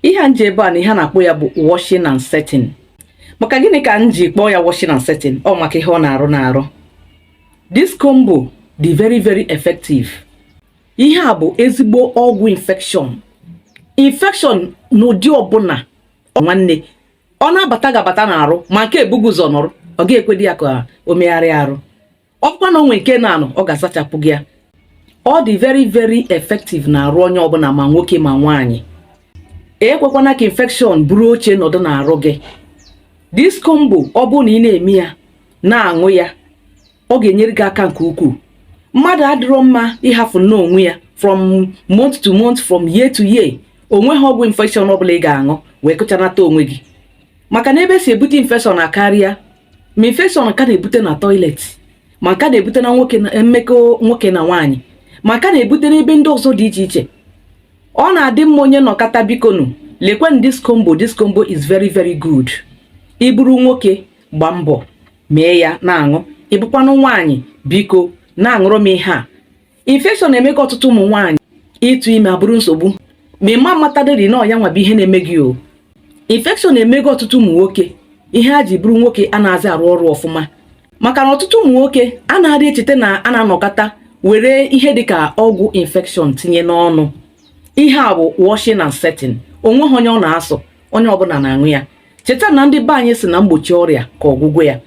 ihe a m ji ebe a na ihe a na-akpọ ya bụ washing and setting maka gịnị ka m ji kpọọ ya washing and setting ọ maka ihe ọ na-arụ n'arụ this combo dị very very effective ihe a bụ ezigbo ọgwụ infection infection n'ụdị ọbụla nwanne ọ na-abata ga-abata n'arụ ma nke ebugo ụzọ nọrọ ọ ga-ekwedi ya ka o megharịa arụ ọkwa na o nwe nke na-anọ ọ ga-asachapụ gị ya ọ dị very very effective n'arụ onye ọbụla ma nwoke ma nwaanyị ekwekwana ka infection buru oche nọdụ n'arụ gị this combo ọ bụrụ na ị na-eme ya na-aṅụ ya ọ ga-enyere gị aka nke ukwuu mmadụ adịrọ mma ịhafụ nnọọ onwe ya from month to month from year to year onweghị ọgwụ infection ọbụla ị ga-aṅụ wee kụchanata onwe gị maka na ebe e si ebute infection akarịa ma infection nke a na-ebute na toilet ma nke a na-ebute na mmekọ nwoke na nwaanyị ma nke a na-ebute n'ebe ndị ọzọ dị iche iche ọ na-adị mma onye nọkata bikonu lekwenụ this combo this combo is very very good ị bụrụ nwoke gba mbọ mee ya na-aṅụ ị bụkwanụ nwaanyị biko na-aṅụrụ m ihe a infection emego ọtụtụ ụmụ nwaanyị ịtụ ime abụrụ nsogbu ma ị ma matadịrị na ọ ya nwa bụ ihe na-eme gị o infection emego ọtụtụ ụmụ nwoke ihe ha ji bụrụ nwoke anazị arụ ọrụ ọfụma maka na ọtụtụ ụmụ nwoke anadị echeta na a na-anọkata were ihe dịka ọgwụ infection tinye n'ọnụ ihe a bụ washing and setting onweghị onye ọ na-asọ onye ọbụla na-aṅụ ya cheta na ndị be anyị sị na mgbochi ọrịa ka ọgwụgwọ ya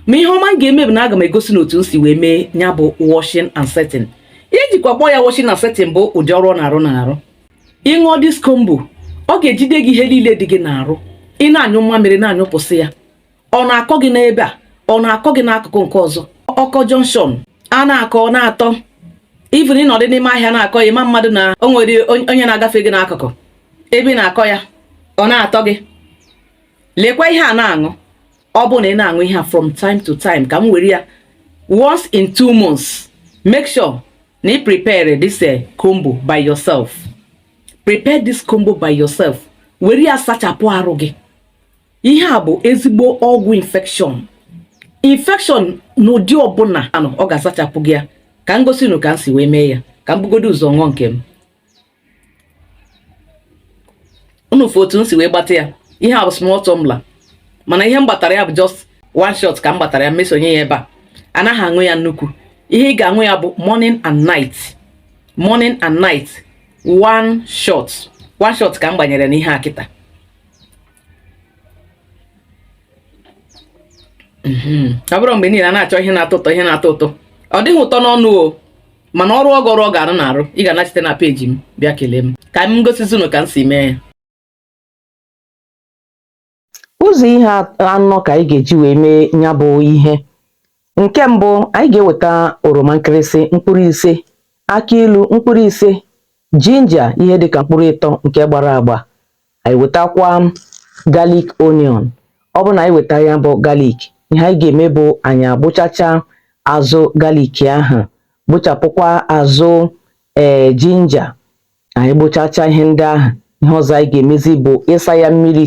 mma ihe ọma m ga-eme bụ na aga m egosi unu otu m si wee mee ya bụ washing and setting ihe e jikwa kpọọ ya washing and setting bụ ụdị ọrụ ọ na-arụ n'arụ ị ṅụọ this combo ọ ga-ejide gị ihe niile dị gị n'arụ ị na-anyụ mmamịrị na-anyụpụsị ya ọ na-akọ gị n'ebe a ọ na-akọ gị n'akụkụ nke ọzọ ọkọ junction a na-akọ na-atọ even ịnọdụ n'ime ahịa na-akọ ya ị ma madị na o nwere onye na-agafe gị n'akụkụ ebe ị na-akọ ya ọ na-atọ gị lekwa ihe a na-aṅụ ọ bụrụ na ị na-aṅụ ihe a from time to time ka m were ya once in two months make sure na ị prepare this eh, combo by yourself prepare this combo by yourself were ya sachapụ arụ gị ihe a bụ ezigbo ọgwụ infection infection n'ụdị ọbụla ọ ga-asachapụ gị ya ka m gosi unu ka m si wee mee ya ka m bugodo ụzọ ṅụọ nke m unu fụ otu m si wee gbata ya ihe a bụ small tumbler mana ihe m gbatara ya bụ just one shot ka m gbatara ya mesonye ya ebe a anaghị aṅụ ya nnukwu ihe ị ga-aṅụ ya bụ morning and night morning and night one shot one shot ka m gbanyere n'ihe a kịta mhm. ọ bụrọ mgbe niile a na-achọ ihe na-atọ ụtọ ihe na-atọ ụtọ ọ dịghị ụtọ n'ọnụ o mana ọrụ ọ ga ọrụ ọ ga-arụ na arụ ị ga-anachite na peji m bịa kelee m ka m gosizi unu ka m si mee ya ụzọ ihe anọ ka anyị ga-eji wee mee ya bụ ihe nke mbụ anyị ga-eweta oroma nkịrịsị mkpụrụ ise akị ilu mkpụrụ ise jinja ihe dịka mkpụrụ ịtọ nke gbara agba anyị wetakwa galik onion ọ bụ na anyị weta ya bụ galik ihe anyị ga-eme bụ anyị agbụchacha azụ galik ahụ gbụchapụkwa azụ ee eh, jinja anyị gbụchacha ihe ndị ahụ ihe ọzọ anyị ga-emezi bụ ịsa ya mmiri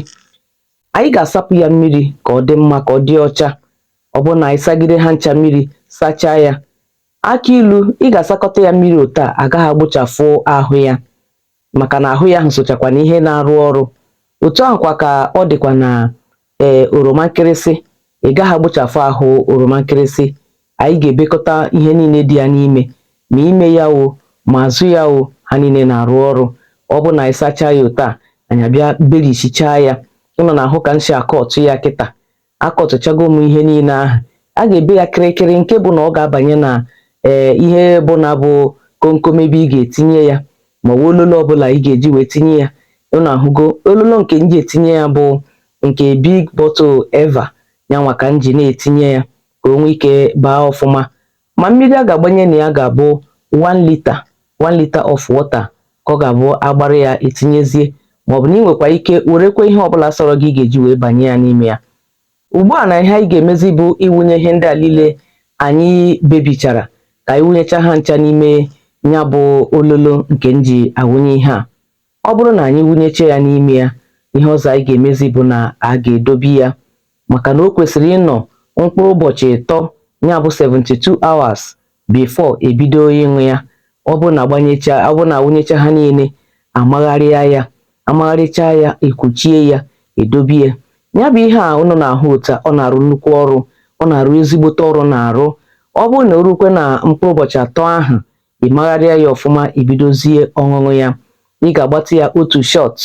anyị ga-asapụ ya mmiri ka ọ dị mma ka ọ dị ọcha ọ bụ na anyị sagide ha ncha mmiri sachaa ya akị ilu ị ga-asakọta ya mmiri otu a a gaghị agbụchafụ ahụ ya maka na ahụ ya ahụ sochakwa na ihe na-arụ ọrụ otu ahụkwa ka ọ dịkwa na ee eh, oroma nkịrịsị ị gaghị agbụchafụ ahụ oroma nkịrịsị anyị ga-ebekọta ihe niile dị ya n'ime ma ime ya o ma azụ ya o ha niile na-arụ ọrụ ọ bụ na anyị sachaa ya otu a anyị abịa berichaa ya unu na-ahụ ka m si akọtụ ya kịta akọtụchago m ihe niile ahụ a ga-ebe ya kịrịkịrị nke bụ na ọ ga-abanye na ee eh, ihe ọbụna bụ komkom ebe ị ga-etinye ya ma ọ bụ ololo ọbụla ị ga-eji wee tinye ya unu ahụgo ololo nke m ji etinye ya bụ nke big bottle Eva ya nwa ka m ji na-etinye ya ka o nwee ike baa ọfụma ma mmiri a ga-agbanye na ya ga-abụ 1 litre of water ka ọ ga-abụ a gbara ya etinyezie maọbụ na ị nwekwa ike werekwa ihe ọbụla sọrọ gị ị ga-eji wee banye ya n'ime ya ugbu a na ihe anyị ga-emezi bụ ịwụnye ihe ndị a niile anyị bebichara ka anyị wụnyecha ha ncha n'ime ya bụ ololo nke m ji awụnye ihe a ọ bụrụ na anyị wụnyecha ya n'ime ya ihe ọzọ anyị ga-emezi bụ na a ga-edobe ya maka na o kwesịrị ịnọ mkpụrụ ụbọchị ịtọ ya bụ 72 hours before e bido ịṅụ ya ọ bụrụ na a wụnyecha ha niile a magharịa ya a magharịcha ya e kwuchie ya e dobe ya ya bụ ihe a ụnụ na-ahụ otu a ọ na-arụ nnukwu ọrụ ọ na-arụ ezigbote ọrụ na arụ ọ bụrụ na o rukwe na mkpụrụ ụbọchị atọ ahụ ị magharịa ya ọfụma i bidozie ọṅụṅụ ya ị ga-agbata ya otu shot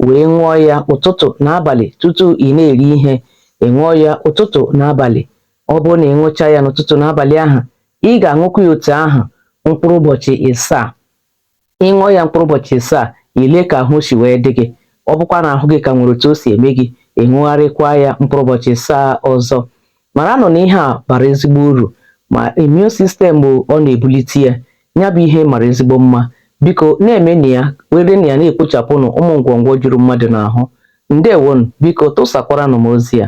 wee ṅụọ ya ụtụtụ na abalị tutu ị na-eri ihe ị ṅụọ ya ụtụtụ na abalị ọ bụrụ na ị ṅụcha ya n'ụtụtụ na abalị ahụ ị ga-aṅụkwa ya otu ahụ mkpụrụ ụbọchị ịsaa ị ṅụọ ya mkpụrụ ụbọchị ịsaa i lee ka ahụ si wee dị gị ọ bụkwa na ahụ gị ka nwere otu o si eme gị ị ṅụgharịkwa ya mkpụrụ ụbọchị ịsaa ọzọ maranụ na ihe a bara ezigbo uru ma immune system ọ na-ebulite ya ya bụ ihe mara ezigbo mma biko na-emenụ ya werenụ ya na-ekpochapụnụ ụmụ ngwọngwọ juru mmadụ n'ahụ ndewonụ biko tụsakwaranụ m ozi a